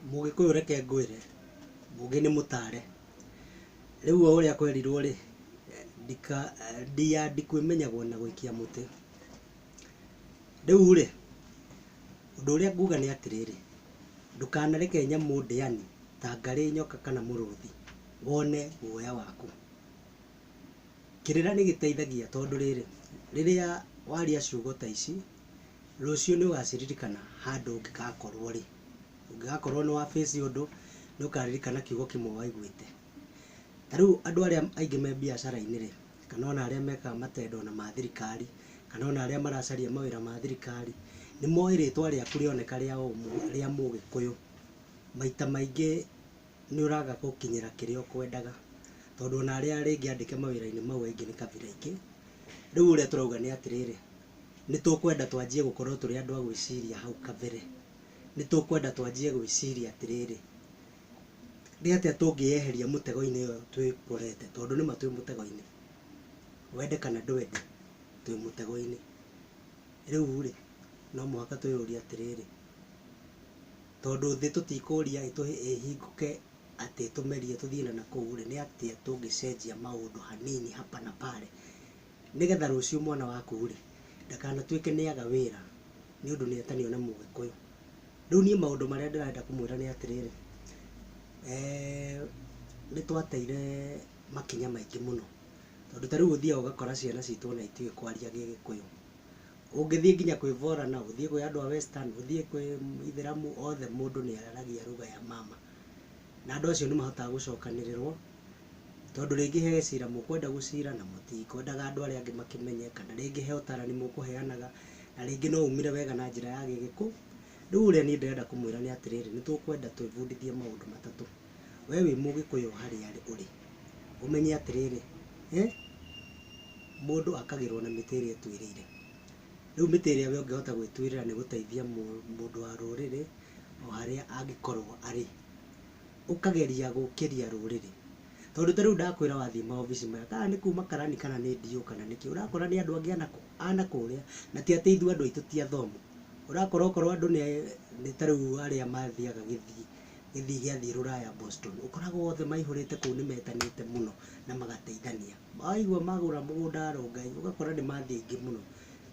Mũgĩkũyũ reke ngwĩre, mũgĩ nĩ mũtare. Rĩu o ũrĩa kwerirwo rĩ, ndika, ndia ndikwĩmenyagwo na gũikia mũtĩ. Rĩu rĩ, ũndũ ũrĩa nguga nĩ atĩrĩrĩ, ndũkanareke nyamũ ndĩani ta ngarĩ, nyoka kana mũrũthi wone guoya waku. Kĩrĩra nĩ gĩteithagia tondũ rĩrĩ, rĩrĩa waria ciugo ta ici, Rũciũ nĩ ũgaciririkana handũ ũngĩgakorũo rĩ. Ũngĩgakorũo nĩ wa face ũndũ, nĩ ũkaririkana kiugo kĩmwe waiguĩte. Ta rĩu andũ arĩa aingĩ me mbiacara-inĩ rĩ, kana o na arĩa mekaga matendo o na ma thirikari, kana o na arĩa maracaria mawĩra ma thirikari, nĩ moĩ rĩtwa rĩaku rĩoneka rĩa Mũgĩkũyũ. Maita maingĩ... nĩũraga gũkinyĩra kĩrĩa ũkwendaga, tondũ ona arĩa rĩngĩ andĩke mawĩra-inĩ mau aingĩ nĩ kabira ingĩ. Rĩu ũrĩa tũrauga nĩ atĩrĩrĩ, nĩtũkwenda twanjie gũkorwo tũrĩ andũ a gwĩciria hau kabere. Nĩtũkwenda twanjie gwĩciria atĩrĩrĩ, nĩ atĩa tũngĩyeheria mũtego-inĩ ũyũ twĩkorete, tondũ nĩma twĩ mũtego-inĩ, wende kana ndwende twĩ mũtego-inĩ. Rĩu-rĩ, no mũhaka twĩyũrie atĩrĩrĩ. Tondũ thĩ tũtikũria ĩtũhe ĩhingũke atĩ tũmerie tũthiĩ na nakũu rĩ, nĩ atĩa tũngĩcenjia maũndũ hanini hapa na pale nĩ getha rũciũ mwana waku rĩ, ndakanatuĩke nĩ aga wĩra nĩ ũndũ nĩ etanio na Mũgĩkũyũ. Rĩu niĩ maũndũ marĩa ndĩrenda kũmwĩra nĩ atĩrĩrĩ, nĩ twateire makinya maingĩ mũno tondũ ta rĩu ũthiaga ũgakora ciana citũ ona itiũĩ kwaria Gĩgĩkũyũ. ũngĩthiĩ nginya kwĩ borana, ũthiĩ kwĩ andũ a western, ũthiĩ kwĩ ithĩramu, othe mũndũ nĩ araragia ruga ya mama. Na andũ acio nĩ mahotaga gũcokanĩrĩrwo, tondũ rĩngĩ he cira mũkwenda gũcira na mũtikwendaga andũ arĩa angĩ makĩmenye, kana rĩngĩ he ũtarani mũkũheanaga, na rĩngĩ no umĩre wega na njĩra ya gĩgĩkũ. Rĩu ũrĩa niĩ ndĩrenda kũmwĩra nĩ atĩrĩrĩ, nĩ tũkwenda twĩbundithie maũndũ matatũ. Wee wĩ Mũgĩkũyũ harĩa ũrĩ, ũmenye atĩrĩrĩ, mũndũ akagĩrwo na mĩtĩ ĩrĩa ĩtuĩrĩire. Rĩu mĩtĩ ĩrĩa wee ũngĩhota gwĩtuĩrĩra nĩ gũteithia mũndũ wa rũrĩrĩ o harĩa angĩkorwo arĩ. Ũkageria gũkĩria rũrĩrĩ. Tondũ ta rĩu ndakwĩra wathiĩ maobici maya, kana nĩ kuma karani kana nĩ DO kana nĩ kĩĩ, ũrakora nĩ andũ angĩ a na kũrĩa, na ti atĩ ithuĩ andũ aitũ ti athomu. Ũrakora okorwo andũ nĩ ta rĩu arĩa mathiaga Gĩthii, gĩthii gĩathiĩ rũraya Boston ũkoraga othe maihũrĩte kũu nĩ metanĩte mũno na magateithania waigua magũra mũgũnda wa Rongai ũgakora nĩ mathiĩ aingĩ mũno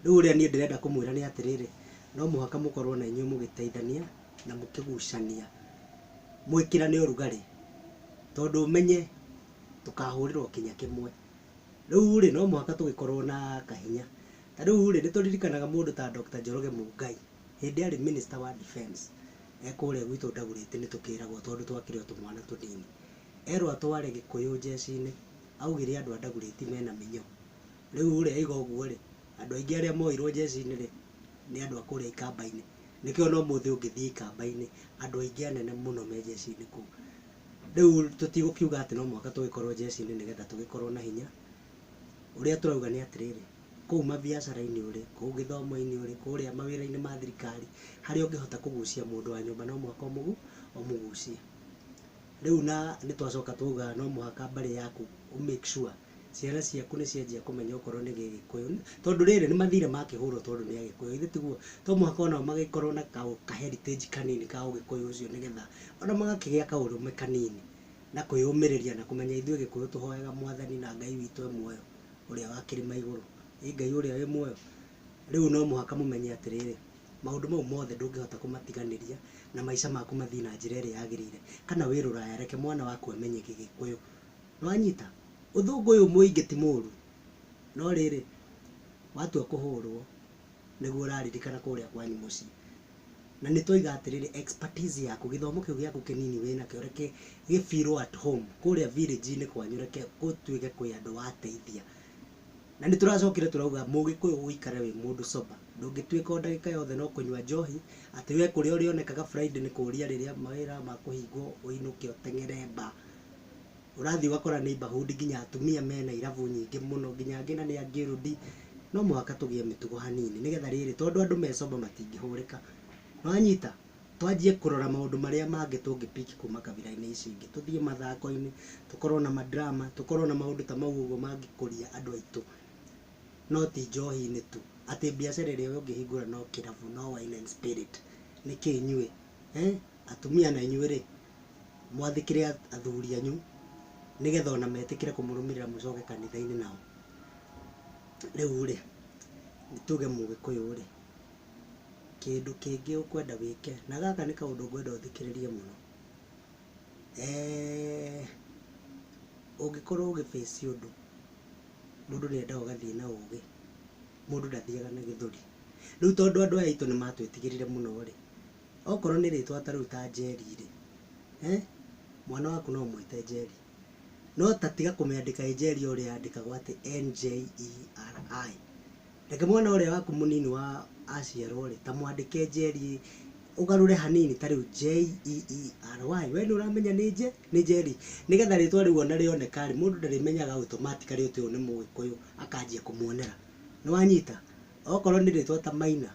rĩu ũrĩa niĩ ndĩrenda kũmwĩra nĩ atĩrĩrĩ no mũhaka mũkorwo na inyuĩ mũgĩteithania na mũkĩgucania mwĩkĩrane ũrugarĩ tondũ ũmenye tũkahũrĩrwo kinya kĩmwe rĩu rĩ no mũhaka tũgĩkorwo na kahinya ta rĩu rĩ nĩ tũririkanaga mũndũ ta Doctor Njoroge Mũngai. Hĩndĩ arĩ minister wa defence e kũrĩa gwitũ Ndagurĩti nĩ tũkĩragwo tondũ twakĩrĩ o tũmwana tũnini. Erwo atware Gĩkũyũ njeci-inĩ augire andũ a Ndagurĩti mena mĩnyoo. Rĩu ũrĩa auga ũguo rĩ, andũ aingĩ arĩa moirwo njeci-inĩ rĩ, nĩ andũ a kũrĩa ikamba-inĩ. Nĩkĩo ona ũmũthĩ ũngĩthiĩ ikamba-inĩ andũ aingĩ anene mũno me njeci-inĩ kũu. Rĩu tũtigũkiuga atĩ no mũhaka tũgĩkorwo njeci-inĩ nĩgetha tũgĩkorwo na hinya. Ũrĩa tũrauga nĩ atĩrĩrĩ. kũu mabiacara-inĩ ũrĩ, kũu gĩthomo-inĩ ũrĩ, kũrĩa mawĩra-inĩ ma thirikari, harĩa ũngĩhota kũgucia mũndũ wa nyũmba no mũhaka ũmũgucie. Rĩu na nĩ twacoka twauga no mũhaka mbarĩ yaku ũ make sure ciana ciaku nĩ cianjia kũmenya okorwo nĩ gĩgĩkũyũ, tondũ rĩrĩ nĩ mathirĩ makĩhũrwo tondũ nĩ agĩkũyũ githĩ tiguo? To mũhaka onao magĩkorwo na ka heritage kanini ka ũgĩkũyũ ũcio nĩ getha ona magakĩgĩa kaũrũme kanini na kwĩyũmĩrĩria na kũmenya ithuĩ gĩkũyũ tũhoyaga mwathani na Ngai witũ e muoyo. ũrĩa wa kĩrĩma igũrũ. Ĩ Ngai ũrĩa wĩ muoyo? Rĩu no mũhaka mũmenye atĩrĩrĩ, maũndũ mau mothe ndũngĩhota kũmatiganĩria na maica maku mathiĩ na njĩra ĩrĩa yagĩrĩire, kana wĩ rũraya reke mwana waku amenye gĩgĩkũyũ. Nĩ wanyita? Ũthũngũ ũyũ mũingĩ ti mũru, no rĩrĩ, watua kũhũrwo. nĩguo ũraririkana kũrĩa kwanyu mũciĩ. Na nĩ twoiga atĩrĩrĩ expertise yaku, gĩthomo kĩu gĩaku kĩnini wĩ nakĩo reke gĩ feel at home kũrĩa village inĩ kwanyu reke ũtuĩke kwĩ andũ wateithia. Na nĩ tũracokire tũrauga mũgĩkũyũ gũikara wĩ mũndũ sober ndũngĩtuĩka o ndagĩka yothe no kũnyua njohi, atĩ we kũrĩa ũrĩonekaga Friday nĩ kũria rĩrĩa mawĩra makũhingwo ũinũke ũteng'ere bar. ũrathiĩ ũgakora neighborhood nginya atumia mena irabu nyingĩ mũno, nginya angĩ na nĩ angĩrundi. No mũhaka tũgĩe mĩtugo hanini nĩgetha rĩrĩ, tondũ andũ me sober matingĩhũrĩka. Nĩ wanyita? Twanjie kũrora maũndũ marĩa mangĩ tũngĩ pick kuma kabira-inĩ ici ingĩ. Tũthiĩ mathako-inĩ, tũkorwo na ma drama, tũkorwo na maũndũ ta mau ũguo mangĩkũria andũ aitũ, no ti njohi-inĩ tu. Atĩ mbiacara ĩrĩa we ũngĩhingũra no kĩrabu, no wine and spirit. Nĩkĩ inyuĩ? Atumia nainyuĩ rĩ? mwathĩkĩre athuri anyu nĩgetha ona metĩkĩre kũmũrũmĩrĩra mũcoke kanitha-inĩ nao. Rĩu rĩ, nĩ tuge mũgĩkũyũ rĩ, kĩndũ kĩngĩ ũkwenda wĩke, na gaka nĩ kaũndũ ngwenda ũthikĩrĩrie mũno, eeh ũngĩkorwo ũgĩ face ũndũ, mũndũ nĩ endaga ũgathiĩ na ũgĩ, mũndũ ndathiaga na gĩthũri. Rĩu tondũ andũ aya aitũ nĩ matwĩtigĩrire mũno rĩ, Okorwo nĩ rĩtwa ta rĩu ta Njeri rĩ, eeh, mwana waku no ũmwĩte Njeri. No ta tiga kũmĩandĩka ĩ Njeri o ũrĩa yandĩkagwo atĩ N-J-E-R-I. Reke mwana ũrĩa waku mũnini wa aciarwo rĩ, ta mwandĩke Njeri, ũgarũre hanini ta rĩu J-E-E-R-Y. We nĩ ũramenya nĩ nje, nĩ Njeri. Nĩgetha rĩtwa rĩu ona rĩoneka rĩ, mũndũ ndarĩmenyaga automatically atĩ ũyũ nĩ mũgĩkũyũ, akanjia kũmuonera. Nĩ wanyita? Okorwo nĩ rĩtwa ta Maina,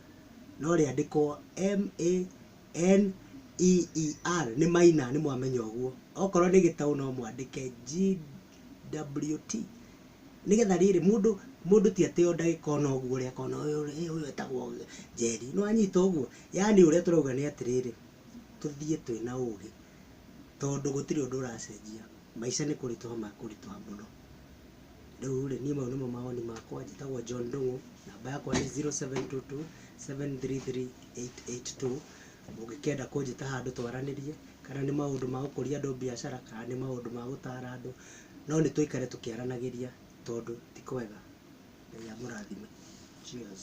no rĩandĩkwo m-a-n-e-e-r, nĩ maina nĩ mwamenya ũguo. Okorwo nĩ gĩtaũ no mwandĩke g-w-t, nĩgetha rĩrĩ, mũndũ, mũndũ ti atĩ o ndagĩka o na ũguo ũrĩa akona ũyũ rĩ, hĩ ũyũ etagwo Njeri. Nĩ wanyita ũguo? Yaani ũrĩa tũrauga nĩ atĩrĩrĩ, tũthiĩ twĩ na ũgĩ, tondũ gũtirĩ ũndũ ũracenjia, maica nĩ kũritũha makũritũha mũno. Rĩu rĩ, niĩ mau nĩmo mawoni makwa. Njĩtagwo John Ndung'u, namba yakwa nĩ zero seven two two seven three three eight eight two. Mũngĩkĩenda kũnjĩta handũ twaranĩrie, kana nĩ maũndũ ma gũkũria andũ mbiacara, kana nĩ maũndũ ma gũtaara andũ, no nĩ tũikare tũkĩaranagĩria tondũ ti kwega. Ngai amũrathime. Cheers.